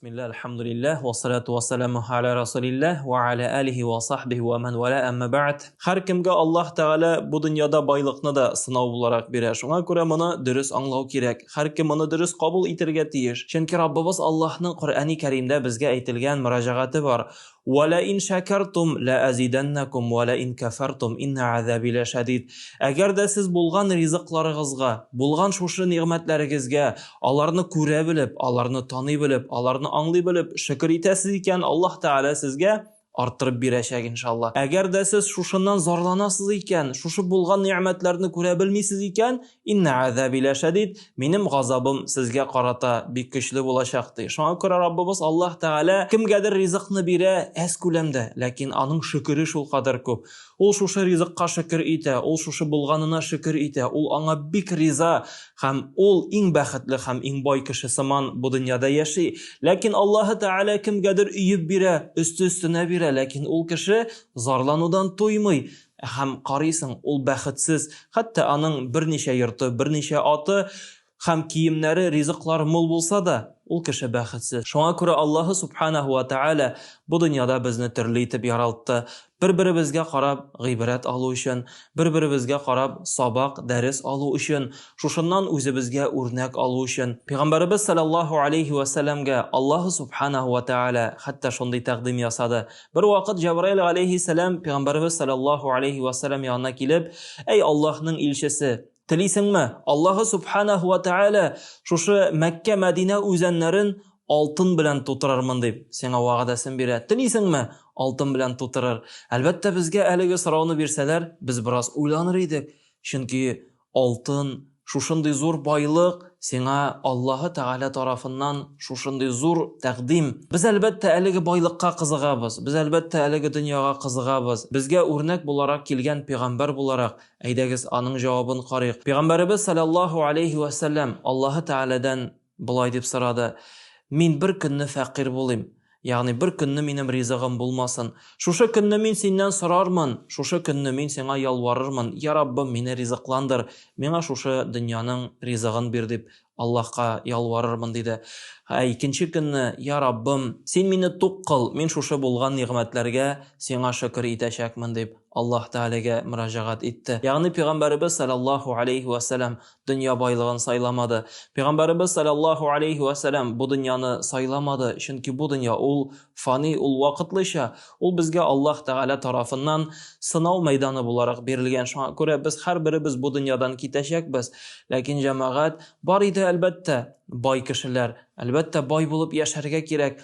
Бисмилла, алхамдулиллах, ва салату ва саламу аля расулиллах, ва аля алихи ва сахбихи ва ман валя әмма ба'д. Хар кимгә Аллах Тагала бу дөньяда байлыкны да сынау буларак бирә. Шуңа күрә моны дөрес аңлау кирәк. Хар ким моны дөрес кабул итергә тиеш. Чөнки Раббыбыз Аллахның Коръәни Кәримдә безгә әйтелгән мөрәҗәгате бар. Вә лә ин шәкәртум лә әзидәннәкум вә лә ин кәфәртум иннә әзәби лә шәдид. Әгәр дә сез булган ризыкларыгызга, булган шушы нигъмәтләрегезгә, аларны күрә белеп, аларны таный белеп, аларны аңлый белеп, шөкер итәсез икән, Аллаһ Тәгалә сезгә арттырып бирәчәк, иншалла. Әгәр дә сез шушыннан зарланасыз икән, шушы булган нигъмәтләрне күрә белмисез икән, Инна азаби ла шадид, минем газабым сезгә карата бик көчле булачак ди. Шуңа күрә Раббыбыз Аллаһ Тәгалә кемгәдер ризыкны бирә әз күләмдә, ләкин аның шөкере шул кадәр күп. Ул шушы ризыкка шөкер итә, ул шушы булганына шөкер итә, ул аңа бик риза һәм ул иң бәхетле һәм иң бай кеше сыман бу дөньяда яши. Ләкин Аллаһ Тәгалә кемгәдер өеп бирә, өсте-өстенә бирә, ләкин ул кеше зарланудан туймый. Һәм карыйсың, ул бәхетсез, хәтта аның берничә йорты, берничә аты һәм киемнәре, ризыклары мул булса да, ул кеше бәхетсез. Шуңа күрә Аллаһы Субханаһу ва Тәгалә бу дөньяда безне төрле итеп яралтты, бер-беребезгә карап гыйбрәт алу өчен, бер-беребезгә карап сабак, дәрес алу өчен, шушыннан үзебезгә үрнәк алу өчен. Пәйгамбәребез салләллаһу алейһи вә сәлләмгә Аллаһы Субханаһу ва Тәгалә хәтта шундый тәкъдим ясады, Бер вакыт Җәбраил алейһиссәлам пәйгамбәрбез саллаллаһу алейһи ва саллям янына килеп, "Әй Аллаһның илчесе, телисеңме? Аллаһы субханаһу ва тааля шушы Мәккә Мәдинә үзәннәрен алтын белән тутырырмын дип, сиңа вәгъдәсен бирә. Телисеңме? Алтын белән тутырыр. Әлбәттә, безгә әлеге сорауны бирсәләр, без бераз уйланыр идек, чөнки Алтын, шушындый зур байлык, сиңа Аллаһы Тәгалә тарафыннан шушындый зур тәкъдим. Без, әлбәттә, әлеге байлыкка кызыгабыз, без, әлбәттә, әлеге дөньяга кызыгабыз. Безгә үрнәк буларак килгән пигамбәр буларак, әйдәгез, аның җавабын карыйк. Пигамбәребез саләллаһу аләйһи вә сәлләм, Аллаһы Тәгаләдән. Болай дип сорады, Мин бер көнне фәкыйрь булыйм, ягъни бер көнне минем ризыгым булмасын, шушы көнне мин синнән сорармын, шушы көнне мин сиңа ялварырмын, Я Раббым, мине ризыкландыр, миңа шушы дөньяның ризыгын бир, дип Аллаһка ялварырмын, диде. Ә икенче көнне, Я Раббым, син мине тук кыл, мин шушы булган нигъмәтләргә сиңа шөкер итәчәкмен, дип Аллаһ Тәгаләгә мөрәҗәгать итте. Ягъни пәйгамбәребез салләллаһу галәйһи вә сәлам дөнья байлыгын сайламады. Пәйгамбәребез саллаллаху алейхи ва саллям бу дөньяны сайламады, чөнки бу дөнья ул фани, ул вакытлыча, ул безгә Аллаһ Тәгалә тарафыннан сынау мәйданы буларак бирелгән. Шуңа күрә без һәрберебез бу дөньядан китәчәкбез. Ләкин җәмәгать бар иде, әлбәттә, бай кешеләр, әлбәттә, бай булып яшәргә кирәк.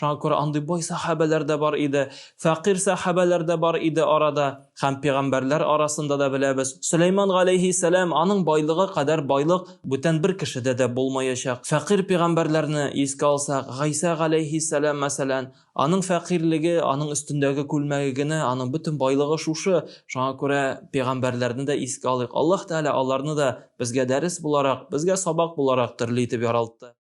Шуңа күрә андый бай сәхабәләр дә бар иде, фәкыйрь сәхабәләр дә бар иде арада. Һәм пигамбәрләр арасында да беләбез, Сөләйман галәйһиссәлам, аның байлыгы кадәр байлык бүтән бер кешедә дә булмаячак. Фәкыйрь пигамбәрләрне искә алсак, Гайсә галәйһиссәлам, мәсәлән, аның фәкыйрьлеге, аның өстендәге күлмәге генә, аның бөтен байлыгы шушы. Шуңа күрә пигамбәрләрне дә искә алыйк. Аллаһ Тәгалә аларны да безгә дәрес буларак, безгә сабак буларак төрле итеп яралтты.